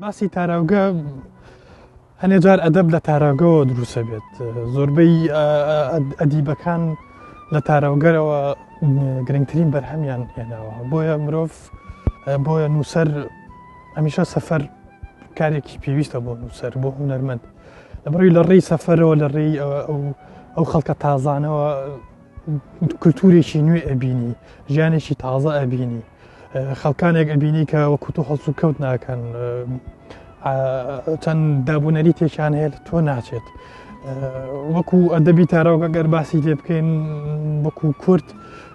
باسی تاراوگە هەنێ جار ئەدەب لە تاراگەوە دروسە بێت زۆربەی ئەدیبەکان لە تاراوگەرەوە گرنگترین بەرهەمیان هێناوە بۆیە مرۆڤ بۆیە نووسەر هەمیشە سەفەر کارێکی پێویستە بۆ نووسەر بۆ هوەرمەند لەبڕی لە ڕێی سەفەرەوە لە ڕێی ئەو خەڵکە تازانەوە کللتورێکی نوێ ئەبینی ژیانێکی تازە ئەبینی خەڵکانێک ئەبینی کە وە کوتو هەڵس و کەوت ناکەن چەند دابوونەری تێکیان هەیە تۆ ناچێت وەکو ئەدەبی تارەوەگە گەر باسی لێ بکەین وەکو کورت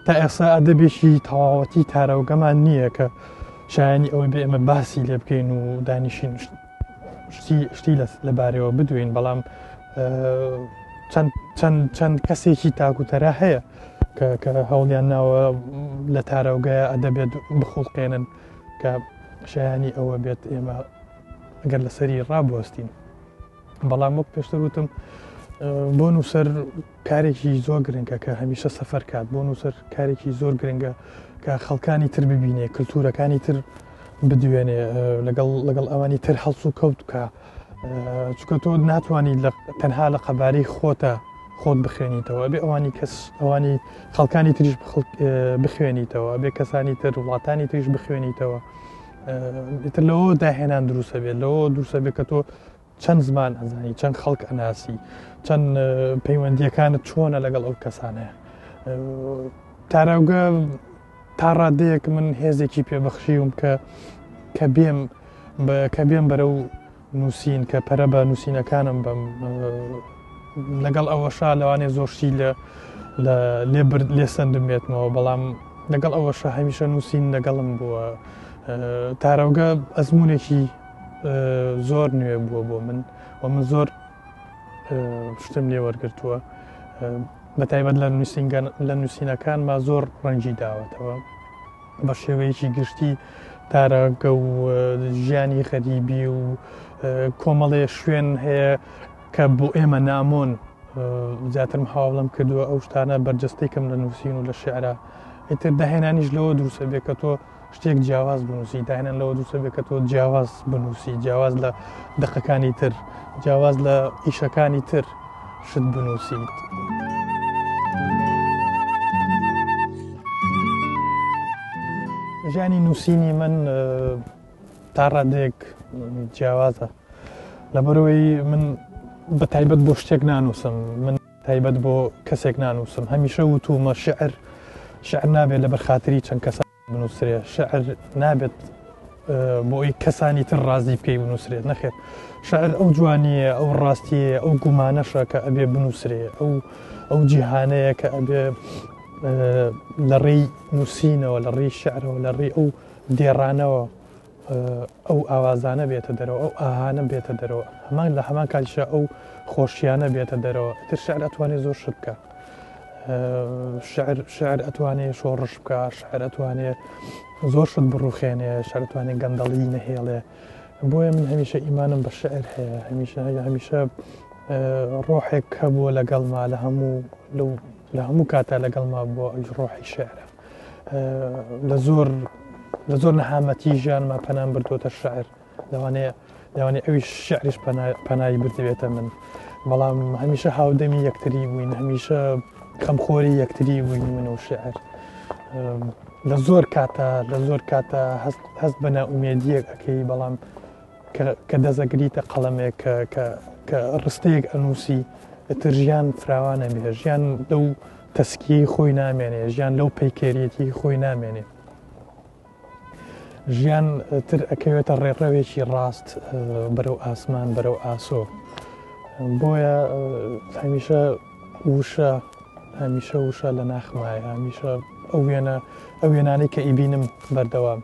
تا ئێسا ئەدەبێکی تەواوەتی تارەوەگەمان نییە کە شایانی ئەوەی بێ ئمە باسی لێ بکەین و دانیشین شتی شتی لە بارەوە بدوین بەڵام چەند کەسێکی تاکوتەرا هەیە کە هەوڵیان ناوە لە تارەوگای ئەدەبێت بخڵقێنن کە شایانی ئەوە بێت ئێمە گەر لەسەری ڕابوەستین بەڵام وەک پێشتر وتم بۆ نووسەر کارێکی زۆر گرنگە کە هەمیشە سەفەر کات بۆ نووسەر کارێکی زۆر گرنگە کە خەڵکانی تر ببینێ کللتورەکانی تر بدوێنێ لەگەڵ لەگەڵ ئەوانی تر هەڵس و کەوت بکە چکە تۆ ناتوانانی تەنها لە قەباری خۆتە خۆت بخوێنیتەوە بێ ئەوانی کەس ئەوانی خەڵکانی تریش بخوێنیتەوە بێ کەسانی تر وڵاتانی تریش بخوێنیتەوە تر لەوە داهێنان دروسە بێت لەوە دروسە بێت کە تۆ چەند زمان ئەزانی چەند خەڵک ئەناسی چەند پەیوەندیەکانت چۆنە لەگەڵ ئەو کەسانە تاراوگە تا ڕادەیەک من هێزێکی پێبەخشیوم کە کە بێم کە بێم بەرە و نووسین کە پەرە بە نووسینەکانم بم لەگەڵ ئەوەشا لەوانێ زۆرشی لە لێ برد لێ سندمێتمەوە بەڵام لەگەڵ ئەوەشە هەمیشە نووسین لەگەڵم بووە تارەوگە ئەزمونێکی زۆر نوێ بووە بۆ من و من زۆر شتم لێ وەرگتووە بە تایبەت لە نووسنگەن لە نووسینەکان ما زۆر ڕەنجی داوەتەوە بە شێوەیەکی گشتی تارەگە و ژیانی خەریبی و کۆمەڵێ شوێن هەیە کە بۆ ئێمە نامۆن زیاترم هاوڵم کردووە ئەو شتانە بەرجستێکم لە نووسین و لە شعرا ئیتر داهێنانیش لەوە دروسە بێ کە تۆ شتێک جیاواز بنووسی داهێنان لەوە دووسە بێت کە تۆ جیاواز بنووسی جیاواز لە دقەکانی تر جیاواز لە ئیشەکانی تر شت بنووسیت. ژیانی نووسینی من تا ڕادێک جیاوازە لەبەرەوەی من بە تایبەت بۆ شتێک نانووسم من تایبەت بۆ کەسێک نانووسم، هەمیشە وتوومە شیعر شیعر نابێت لەبەر خاتری چەند کەسان بنووسرێ، شیعر نابێت بۆی کەسانی تر ڕازی بکەی بنووسرێت نەخێت. شعر ئەو جوانیە ئەو ڕاستیە ئەو گومانەشە کە ئەبێ بنووسرێ ئەو ئەو جیهانەیە کە ئەبێ لە ڕێی نووسینەوە لە ڕێی شعرەوە لە ڕێی ئەو دێڕانەوە ئەو ئاوازانە بێتە دەرەوە ئەو ئاهانە بێتە دەرەوە هەمان لە هەمان کاتیشە ئەو خۆشیانە بێتە دەرەوە تر شعر ئەتوانێت زۆر شت بکە شعر شعر ئەتوانێت شۆڕش بکە شعر ئەتوانێت زۆر شت بڕوخێنێ شارتوانێت گەندەڵی نەهێڵێ بۆیە من هەمیشە ئیمانم بە شعر هەیە هەمیشە هەیە هەمیشە ڕۆحێک هەبووە لەگەڵما لە هەموو لە هەموو کاتە لەگەڵما بۆ ئەج ڕۆحی شعرە لە زۆر لە زۆر نەهامەتی ژیانما پەنام بردوۆتە شعر لەوانەیە لەوانێ ئەوی شعریش پەنایی بردوێتە من بەڵام هەمیشە هاودەمی یەکتری بووین هەمیشە کەمخۆری یەکتری بووین من و شعر لە زۆر کاتە لە زۆر کاتە هەست بە ناومێدیەک ئەەکەی بەڵام کە دەست ئەگریتە قەڵەمێک کە ڕستەیەک ئەنووسی ئتر ژیان فراوانە بێ ژیان لەو تەسکی خۆی نامێنێ ژیان لەو پەیکێریەتی خۆی نامێنێ ژیان تر ئەکەوێتە ڕێڕەوێکی ڕاست بەرەو ئاسمان بەرەو ئاسۆ بۆیە هەمیشە وشە هەمیشە وشە لە ناخمایە هەمیشە ئەو وێنە ئەو وێنانەی کە ئیبینم بەردەوام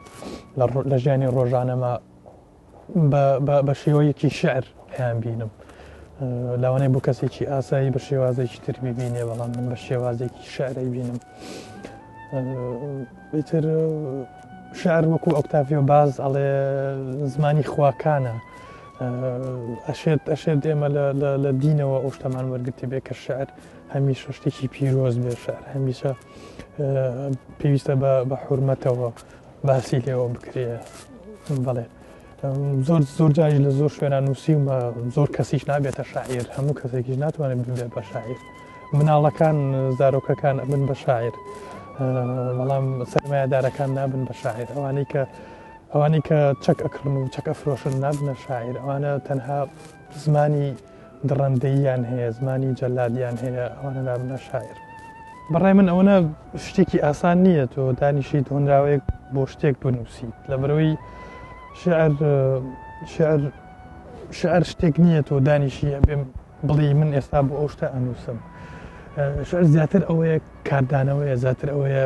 لە ژیانی ڕۆژانەما بە شێوەیەکی شعر هەیان بینم لاوانەی بۆ کەسێکی ئاسایی بە شێوازێکی تر ببینێ بەڵام من بە شێوازێکی شعرەی بینم بتر شعر وەکو ئۆکتافیۆ باز ئەڵێ زمانی خواکانە ئەشێت ئەشێت ئێمە لە دینەوە ئەو شتەمان وەرگرتێ بێ کە شعر هەمیشە شتێکی پیرۆز بێ شعر هەمیشە پێویستە بە حورمەتەوە باسی لێەوە بکرێ بڵێ زۆر زۆر جاری لە زۆر شوێنە نووسیمە زۆر کەسیش نابێتە شاعیر هەموو کەسێکیش ناتوانێت ببێت بە شاعیر مناڵەکان زارۆکەکان ئەبن بە شاعیر بەڵام سەرمایەدارەکان نابن بە شاعیر ئەوانەی کە ئەوانەی کە چەک ئەکڕن و چەک ئەفرۆشن نابنە شاعیر ئەوانە تەنها زمانی دڕەندەییان هەیە زمانی جەلادیان هەیە ئەوانە نابنە شاعیر بەڕای من ئەوەنە شتێکی ئاسان نییە تۆ دانیشیت هۆنراوەیەک بۆ شتێک بنووسیت لە بەرەوەی شعر شعر شعر شتێک نییە تۆ دانیشیە بێم بڵێ من ئێستا بۆ ئەو شتە ئەنووسم شعر زیاتر ئەوەیە کاردانەوەیە زیاتر ئەوەیە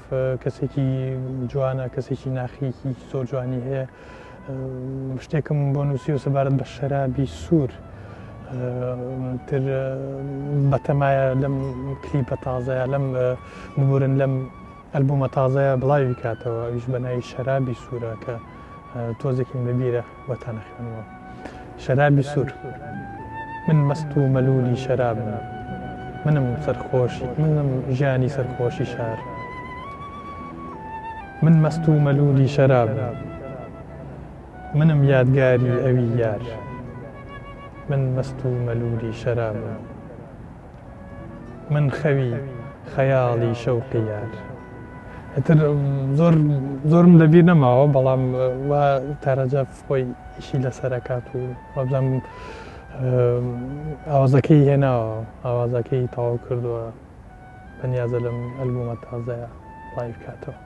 کەسێکی جوانە کەسێکی ناخیکی زۆر جوانی هەیە شتێکم بۆ نووسی و سەبارەت بە شەرابی سوور تر بەتەمایە لەم کلیپە تازەیە لەم ببورن لەم ئەلبوومە تازەیە بڵاوی کاتەوە ئەویش بەناوی شەرابی سوورە کە تۆزێکیم لەبیرە بۆتان ئەخوێنمەوە شەرابی سوور من مەست و مەلولی شەرابم منم سەرخۆشی منم ژیانی سەرخۆشی شار من مەست و مەلولی شەراب منم یادگاری ئەوی یار من مەست و مەلولی شەرابم من خەوی خەیاڵی شەوقی یار ئیتر زۆر زۆرم لەبیر نەماوە بەڵام وا تارەجە خۆی ئیشی لەسەرەکات و وەبزەم ئاوازەکەی هێناوە ئاوازەکەی تاو کردووە بەنیازە لەم ئەلبوومە تازەیە لایف کاتەوە